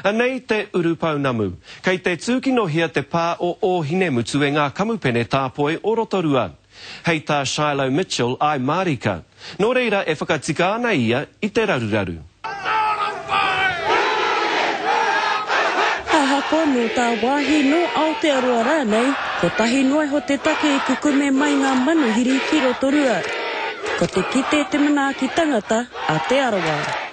Anei te urupounamu. Kei te tūkinohia te pā o Ōhinemutu e ngā kamupene tāpoi o Rotorua. Hei tā Shiloh Mitchell I mārika. Nō reira e whakatika ana ia i te raruraru. Ahakoa nō tāwāhi, nō Aotearoa rānei, kotahi noa iho te take i kukume mai ngā manuhiri ki Rotorua. Ko te kite te manaaki tangata a Te Arawa.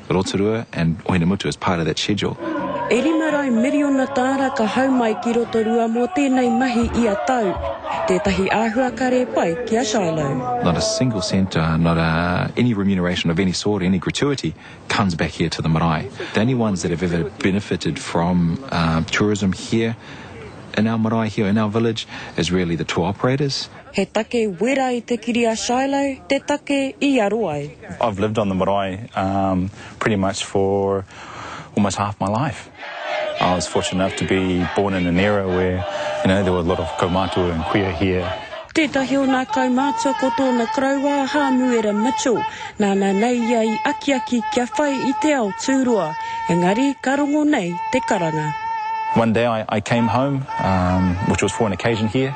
Rotorua and Ohinemutu as part of that schedule. E rima rau miriona tāra ka hau mai ki Rotorua mō tēnei mahi ia tau. Tētahi āhua kare pai ki a Shiloh. Not a single cent, not a any remuneration of any sort, any gratuity comes back here to the marae. The only ones that have ever benefited from tourism here in our marae, here in our village is really the tour operators. He take wera i te kiri a Shiloh, te take i aro ai. I've lived on the marae um pretty much for almost half my life. I was fortunate enough to be born in an era where you know there were a lot of kaumātua and kuia here. Tētahi o nā kaumātua ko tōna koroua a Hāmuera Mitchell, nāna nei ia i akiaki kia whai i te ao tūroa, engari ka rongo nei te karanga. One day I I came home um which was for an occasion here.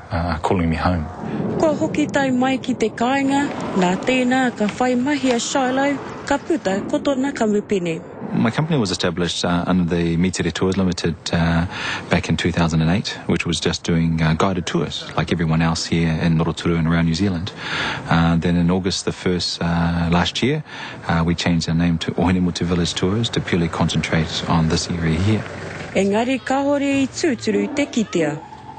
calling me home. Kua hoki tae mai ki te kāinga, nā tēnā ka whai mahi a Shiloh, ka puta ko tona kamupene. My company was established under the Mitere Tours Limited back in 2008, which was just doing guided tours like everyone else here in Roturu and around New Zealand. Then in August the 1st last year, we changed our name to Ohinemutu Village Tours to purely concentrate on this area here. Engari kahore i tūturu te kitea.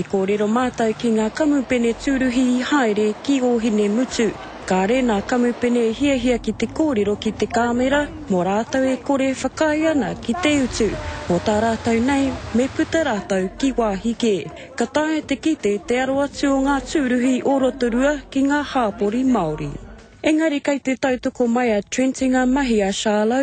I kōrero mātou ki ngā kamupene tūruhi i haere ki Ōhinemutu, kāre nā kamupene e hiahia ki te kōrero ki te kāmera mō rātou e kore whakaae ana ki te utu mō tā rātou nei me puta rātou ki wāhi kē. Ka taea te kite te aro atu o ngā tūruhi o Rotorua ki ngā hāpori Māori. Engari kei te tautoko mai a Trent i ngā mahi a Charlo,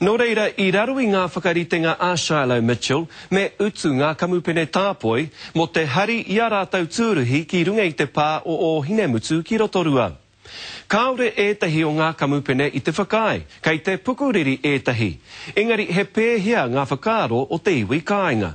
Nō reira, i raro i ngā whakaritenga a Shiloh Mitchell, me utu ngā kamupene tāpoi mō te hari i ā rātou tūruhi ki runga i te pā o Ōhinemutu ki Rotorua. Kāore ētahi o ngā kamupene i te whakaae, kei te pukuriri ētahi, engari he pēhea ngā whakaaro o te iwi kāinga?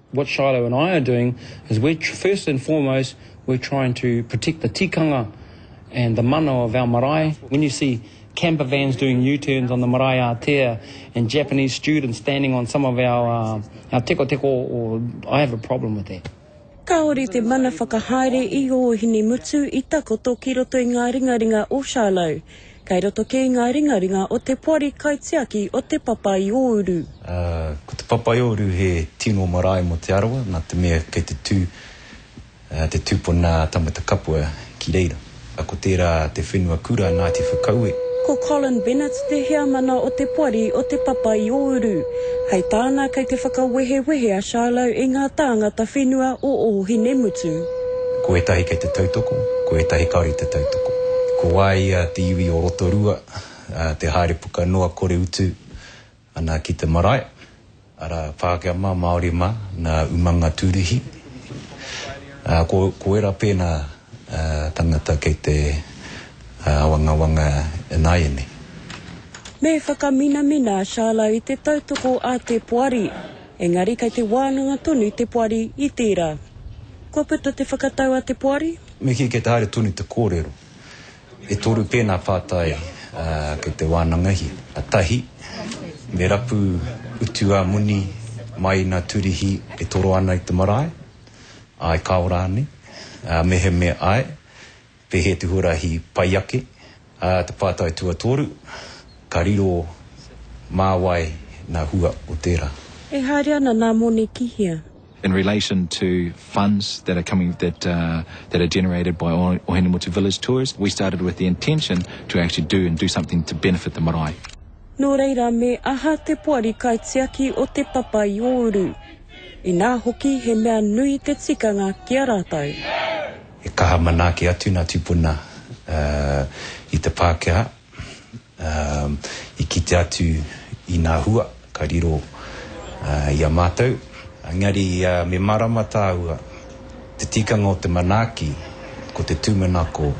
What Shiloh and I are doing is we're first and foremost we're trying to protect the tikanga and the mana of our marae. When you see camper vans doing U-turns on the marae ātea and Japanese students standing on some of our tekoteko, I have a problem with that. Kāore te mana whakahaere i ō Hinemutu i takoto ki roto i ngā ringaringa o Shiloh. Kei roto kē ngā ringaringa o te poari kaitiaki o Te Papa-i-ō-uru. Ā, ko Te Papa-i-ō-uru he tino marae mō Te Arawa, nā te mea kei te tū te tūpuna tangata kapua ki reira. Ko tērā te whenua kura Ngāti Whakaue. Ko Colin Bennett te heamana o te poari o Te Papa-i-ō-uru. Hei tāna kei te whakawehewehe a Shiloh e ngā tāngata whenua o Ōhinemutu. Ko ētahi kei te tautoko, ko ētahi kāore i te tautoko. Ko wā ia te iwi o Rotorua, te haere puka noa kore utu ana ki te marae, arā, Pākehā mā, Māori mā, nā Umanga Tūruhi. Ko ērā pēnā tangata kei te āwangawanga ināianei. Me whakaminamina a Charlo i te tautoko a te poari. Engari kei te wānanga tonu te poari i tērā. Kua puta te whakatau a te poari? Me kī, kei te haere tonu te kōrero. E toru pēnā pātai kei te wānangahia. Tahi, me rapu utu a moni mai i nā turihi e toro ana i te marae? Āe, kāo rānei? Mehemea āe. Pēhē te huarahi pai ake a te pātai tuatoru, ka riro mā wai nā hua o tērā? E haere ana nā moni ki hea? In relation to funds that are coming, that are generated by Ohinemutu Village Tours, we started with the intention to actually do and do something to benefit the marae. Nō reira me aha te poari kaitiaki o Te Papa i Ōuru? Inā hoki he mea nui te tikanga ki a rātou. He kaha manaaki atu nā tupuna i te Pākehā i kite atu i nā hua ka riro i a mātou. Engari me mārama tāua, te tikanga o te manaaki, ko te tūmanako,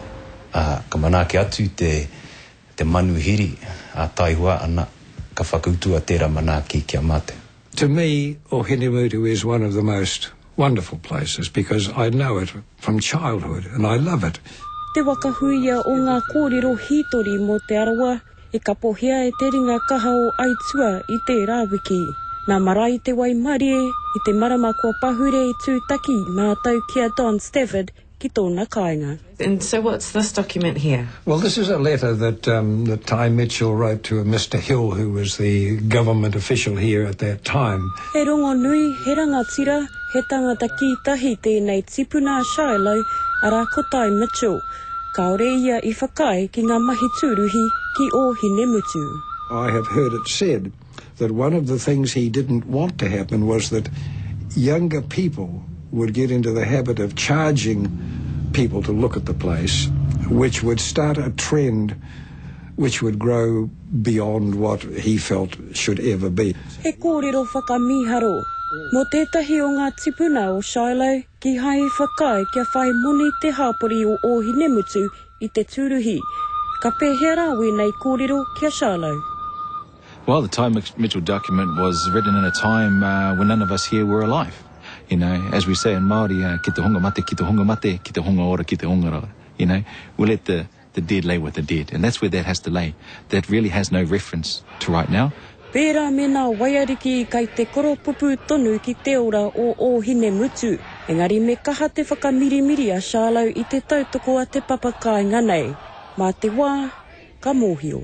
ka manaaki atu te manuhiri a Taihua ana ka whakautua tērā manaaki ki a mātou. To me, Ohinemuru is one of the most wonderful places because I know it from childhood and I love it. Te waka huia o ngā kōrero hītori mō Te Arawa i kapohia e te ringa kaha o Aitua i tērā wiki. Nā Marae te waimarie, i te marama kua pahure i tūtaki mātou ki a Don Stafford ki tōna kāinga. And so what's this document here? Well, this is a letter that um, that Ty Mitchell wrote to a Mr Hill, who was the government official here at that time. He rongonui, he rangatira, he tangata kītahi tēnei tipuna a Shiloh, arā ko Ty Mitchell. Kāore ia i whakaae ki ngā mahi tūruhi ki Ōhinemutu. I have heard it said that one of the things he didn't want to happen was that younger people would get into the habit of charging people to look at the place, which would start a trend which would grow beyond what he felt should ever be. He kōrero whakamīharo mō tētahi o ngā tipuna o Shiloh kīhai i whakaae kia whai moni te hāpori o Ōhinemutu i te tūruhi. Ka pēhea rā wēnei kōrero ki a Shiloh? Well, the Ty Mitchell document was written in a time when none of us here were alive. You know, as we say in Māori, ki te hunga mate, ki te hunga mate, ki te hunga ora, ki te hunga ora. You know, we'll let the the dead lay with the dead. And that's where that has to lay. That really has no reference to right now. Pērā me nā waiariki kai te koropupū tonu ki te ora o Ōhinemutu. Engari me kaha te whakamirimiri a Charlo i te tautoko a te papakāinga nei. Mā te wā, ka mōhio.